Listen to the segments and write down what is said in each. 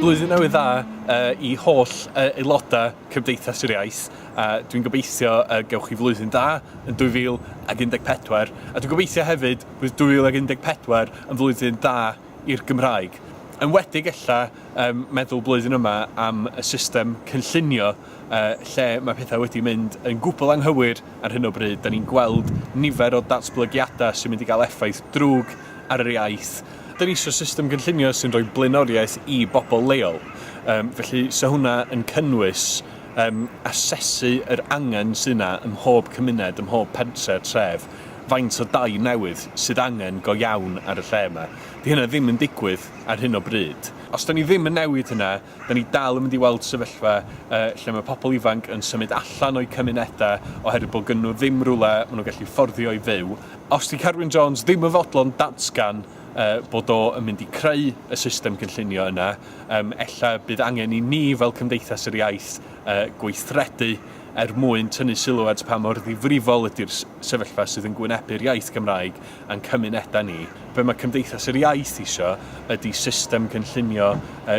Blwyddyn Newydd Dda uh, i holl uh, aelodau Cymdeithas yr Iaith. Uh, dwi'n gobeithio uh, gewch chi flwyddyn da yn 2014 a dwi'n gobeithio hefyd Bydd 2014 yn flwyddyn da i'r Gymraeg. Enwedig ella yn meddwl blwyddyn yma am y system cynllunio lle mae pethau wedi mynd yn gwbl anghywir ar hyn o bryd. Da ni'n gweld nifer o datblygiadau sy'n mynd i gael effaith drwg ar yr iaith. Da ni eisiau system gynllunio sy'n rhoi blaenoriaeth i bobl leol. Felly 'sa hwnna yn cynnwys asesu yr angen sydd yna ym mhob cymuned, ym mhob pentre, tref faint o dai newydd sydd angen go iawn ar y lle yma. Dydy hynna ddim yn digwydd ar hyn o bryd. Os dan ni ddim yn newid hynna, dan ni dal yn mynd i weld sefyllfa lle mae pobl ifanc yn symud allan o'u cymunedau oherwydd bod gennyn nhw ddim rhywle maen nhw'n gallu fforddio i fyw. Os 'di Carwyn Jones ddim yn fodlon datgan bod o yn mynd i creu y system gynllunio yna, ella bydd angen i ni fel Cymdeithas yr Iaith gweithredu er mwyn tynnu sylw at pa mor ddifrifol ydy'r sefyllfa sydd yn gwynebu'r iaith Gymraeg a'n cymunedau ni, be mae Cymdeithas yr Iaith isio ydy system cynllunio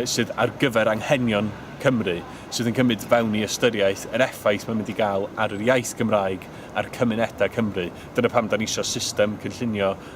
sydd ar gyfer anghenion Cymru, sydd yn cymryd fewn i ystyriaeth yr effaith mae'n mynd i gael ar yr iaith Gymraeg a'r cymunedau Cymru. Dyna pam 'da ni isio system cynllunio